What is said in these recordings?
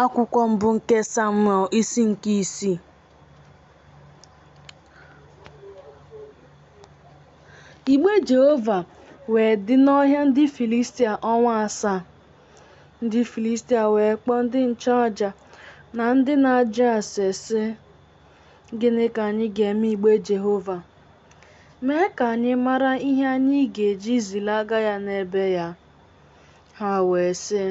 Akwụkwọ mbụ nke Samuel isi nke isii. Igbe Jehova wee dị n'ọhịa ndị Filistia ọnwa asaa. Ndị Filistia wee kpọọ ndị nchụaja na ndị na-ajụ ase sị, Gịnị ka anyị ga-eme igbe Jehova? Mee ka anyị mara ihe anyị ga-eji zilaga ya n'ebe ya. Ha wee sị,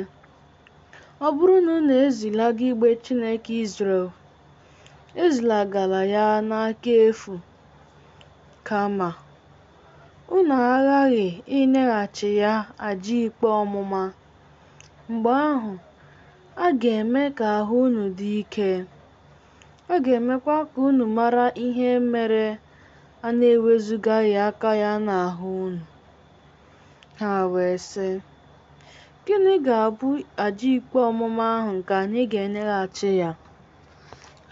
Ọ bụrụ na unu ezilaga igbe Chineke Izrel, ezilagala ya n'aka efu. Kama, unu aghaghị inyeghachi ya aja ikpe ọmụma. Mgbe ahụ, a ga-eme ka ahụ unu dị ike. A ga-emekwa ka unu mara ihe mere a na-ewezugaghị aka ya n'ahụ unu. Ha wee sị, Gịnị ga-abụ aja ikpe ọmụma ahụ nke anyị ga-enyeghachi ya?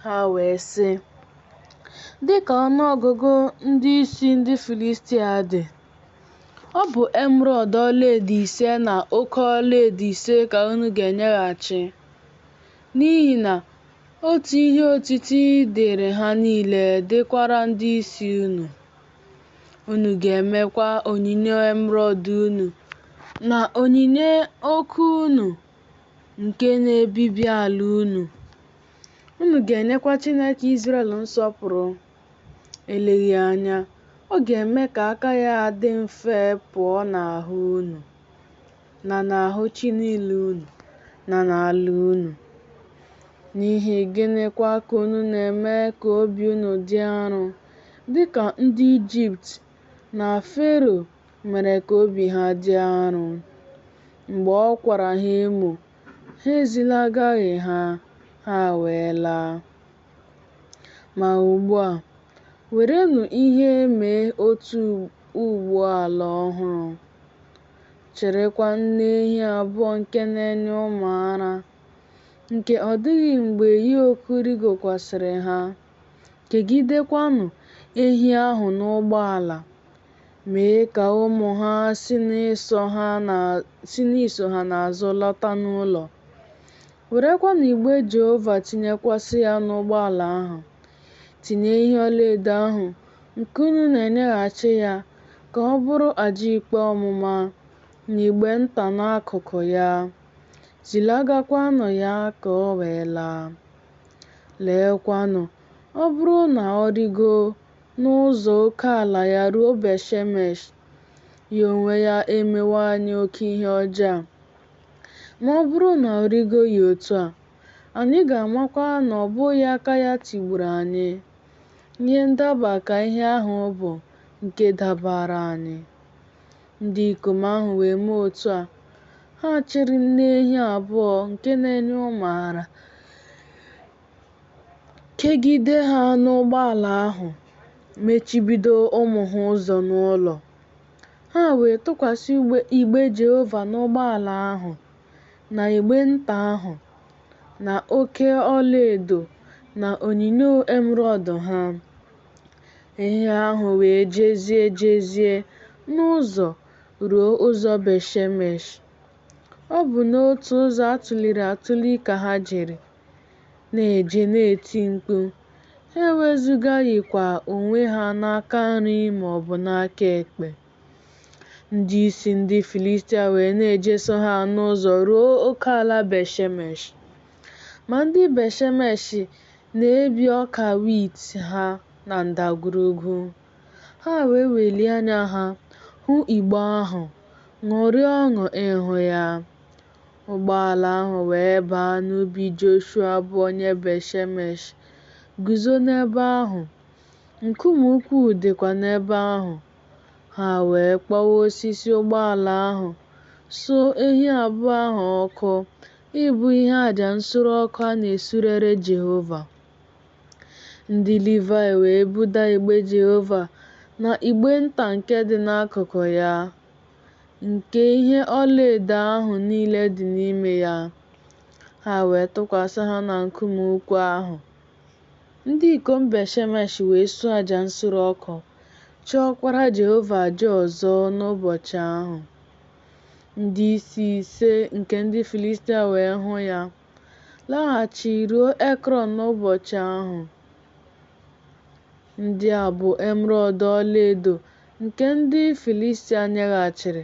Ha wee sị, Dị ka ọnụ ọgụgụ ndị isi ndị Filistia dị, ọ bụ emerọd ọlaedo ise na oke ọlaedo ise ka unu ga-enyeghachi, n'ihi na otu ihe otiti dịịrị ha niile dịkwara ndị isi unu. Unu ga-emekwa onyinyo emerọd unu na onyinyo oke unu nke na-ebibi ala unu. Unu ga-enyekwa Chineke Izrel nsọpụrụ. Eleghị anya, ọ ga-eme ka aka ya dị mfe pụọ n'ahụ unu na n'ahụ chi niile unu na n'ala unu. N'ihi gịnịkwa ka unu na-eme ka obi unu dị arụ? dị ka ndị Ijipt na Fero mere ka obi ha dị arụ. Mgbe ọ kwara ha emo, ha ezilagaghị ha, ha wee laa. Ma ugbu a, werenụ ihe mee otu ụgbọ ala ọhụrụ. Chịrịkwa nne ehi abụọ nke na-enye ụmụ ara, nke ọ dịghị mgbe yoku rịgokwasịrị ha. Kegidekwanụ ehi ahụ n'ụgbọala, mee ka ụmụ ha si n'iso ha n'azụ lata n'ụlọ. Werekwanụ igbe Jehova tinyekwasị ya n'ụgbọala ahụ. Tinye ihe ọlaedo ahụ nke unu na-enyeghachi ya ka ọ bụrụ aja ikpe ọmụma n'igbe nta n'akụkụ ya. Zilagakwanụ ya ka o wee laa. Leekwanụ, ọ bụrụ na ọ rigo n'ụzọ oke ala ya ruo Bet-shemesh, ya onwe ya emewo anyị oke ihe ọjọọ a. Ma ọ bụrụ na ọ rigoghị otu a, anyị ga-amakwa na ọ bụghị aka ya tigburu anyị. Ihe ndaba ka ihe ahụ bụ nke dabaara anyị. Ndị ikom ahụ wee mee otu a. Ha chịrị nne ehi abụọ nke na-enye ụmụ ara, kegide ha n'ụgbọala ahụ, mechibido ụmụ ha ụzọ n'ụlọ. Ha wee tụkwasị igbe Jehova n'ụgbọala ahụ, na igbe nta ahụ, na oke ọlaedo na onyinyo emerọọdụ ha. Ehi ahụ wee jezie jezie n'ụzọ ruo ụzọ Bet-shemesh. Ọ bụ n'otu ụzọ a tụliri atụli ka ha jere, na-eje na-eti mkpu. Ha ewezugaghịkwa onwe ha n'aka nri ma ọ bụ n'aka ekpe. Ndị isi ndị Filistia wee na-ejeso ha n'ụzọ ruo oke ala Bet-shemesh. Ma ndị Bet-shemesh Na-ebi ọka wit ha na ndagwurugwu. Ha wee welie anya ha hụ Igbe ahụ, ṅụrịa ọṅụ ịhụ ya. Ụgbọala ahụ wee baa n'ubi Joshua bụ onye Bet-shemesh, guzo n'ebe ahụ, nkume ukwu dịkwa n'ebe ahụ. Ha wee kpọwa osisi ụgbọala ahụ, suo ehi abụọ ahụ ọkụ, Ịbụ ihe aja nsure ọkụ a na-esurere Jehova. Ndị Livaị wee buda igbe Jehova na igbe nta nke dị n'akụkụ ya, nke ihe ọlaedo ahụ niile dị n'ime ya, ha wee tụkwasị ha na nkume ukwu ahụ. Ndị ikom Bet-shemesh wee suo aja nsure ọkụ, chụọkwara Jehova aja ọzọ n'ụbọchị ahụ. Ndị isi ise nke ndị Filistia wee hụ ya, laghachi ruo Ekrọn n'ụbọchị ahụ. Ndị a bụ emerọọdụ ọlaedo nke ndị Filistia nyeghachiri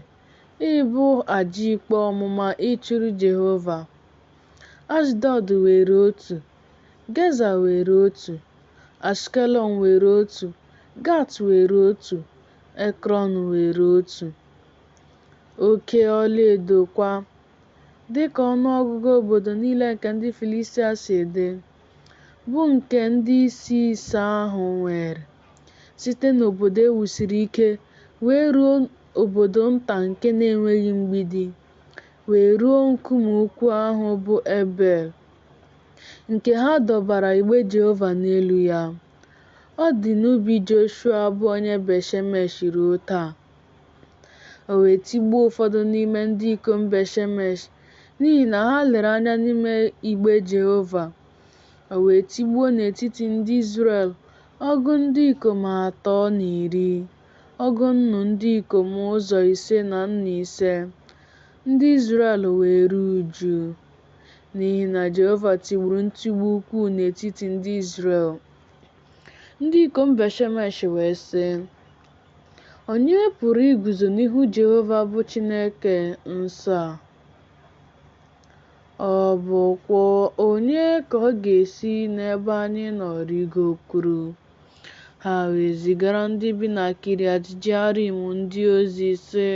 ịbụ aja ikpe ọmụma ịchụrụ Jehova. Ashdọd weere otu, Geza weere otu, Ashkelọn weere otu, Gat weere otu, Ekrọn weere otu. oke ọlaedo kwa, dịka ọnụọgụgụ obodo niile nke ndị Filistia si dị, bụ nke ndị isi ise ahụ nwere, site n'obodo e wusiri ike wee ruo obodo nta nke na-enweghị mgbidi, wee ruo nkume ukwu ahụ bụ Ebel, nke ha dọbara igbe Jehova n'elu ya. Ọ dị n'ubi Joshua bụ onye Bet-shemesh ruo taa. O wee tigbuo ụfọdụ n'ime ndị ikom Bet-shemesh n'ihi na ha lere anya n'ime igbe Jehova. O wee tigbuo n'etiti ndị Izrel ọgụ ndị ikom atọ na iri, ọgụ nnu ndị ikom ụzọ ise na nnu ise. Ndị Izrel wee ruo uju, n'ihi na Jehova tigburu ntigbu ukwuu n'etiti ndị Izrel. Ndị ikom Bet-shemesh wee sị, Onye pụrụ iguzo n'ihu Jehova bụ Chineke nsọ a? Ọ bụkwa onye ka ọ ga-esi n'ebe anyị nọ rigokwuru? Ha wee zigara ndị bi na Kiriat Jearim ndị ozi, sị,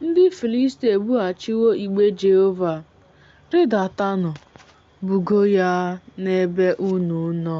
Ndị Filistia ebughachiwo igbe Jehova. Rịdatanụ, bugo ya n'ebe unu nọ.